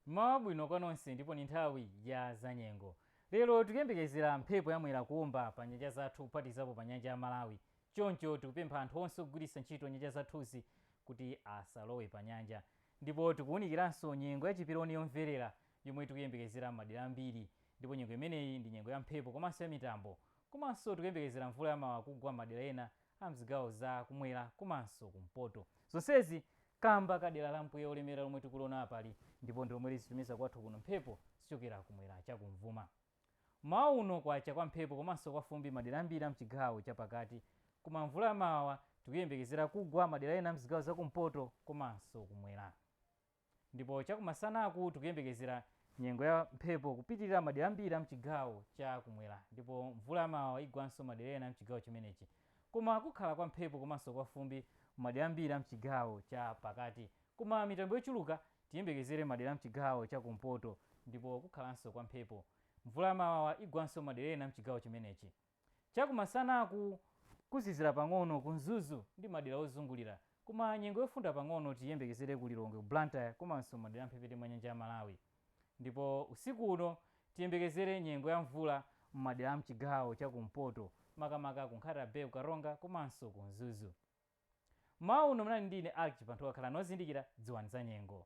mmawa bwino kwa nonse ndipo ni nthawi ya zanyengo lero tikuyembekezera mphepo ya mwera kuomba pa nyanja zathu kuphatikizapo pa nyanja ya malawi choncho tikupempha anthu onse ogwiritsa ntchito nyanja zathuzi kuti asalowe pa nyanja ndipo tikuwunikiranso nyengo ya chiperoni yomverera yomwe tikuyembekezera m'madera ambiri ndipo nyengo imeneyi ndi nyengo ya mphepo komanso ya mitambo komanso tikuyembekezera mvula yamawawa kugwa m'madera ena a mzigawo za kumwera komanso kumpoto. Zonsezi kamba ka dera la mpweya olemera lomwe tikuliona apali ndipo ndilomwe lizitumiza kwathu kuno mphepo zichokera kumwera chakumvuma. Mmawa uno kwacha kwa mphepo komanso kwa fumbi madera ambiri a mchigawo chapakati koma mvula ya mawawa tikuyembekezera kugwa madera ena a mzigawo za kumpoto komanso kumwera. Ndipo chakumasanaku tikuyembekezera nyengo ya mphepo kupitilira madera ambiri a mchigawo cha kumwera ndipo mvula ya mawawa igwanso madera ena a mchigawo chimenechi koma kukhala kwa mphepo komanso kwa fumbi madera ambiri a mchigawo cha pakati koma mitambo yochuluka tiyembekezere madera a mchigawo cha kumpoto ndipo kukhalanso kwa mphepo mvula ya mawawa igwanso madera ena a mchigawo chimenechi. Chakumasanaku kuzizira pang'ono ku Mzuzu ndi madera ozungulira koma nyengo yofunda pang'ono tiyembekezere ku Lilongwe, ku Blantyre komanso madera a mphepete mwa nyanja ya Malawi. Ndipo usiku uno tiyembekezere nyengo ya mvula m'madera a m'chigawo cha kumpoto makamaka ku Nkhata Bay, ku Karonga komanso ku Mzuzu. M'mawa uno munali ndi ine Alick Chibanthowa, khalani ozindikira, dziwani zanyengo.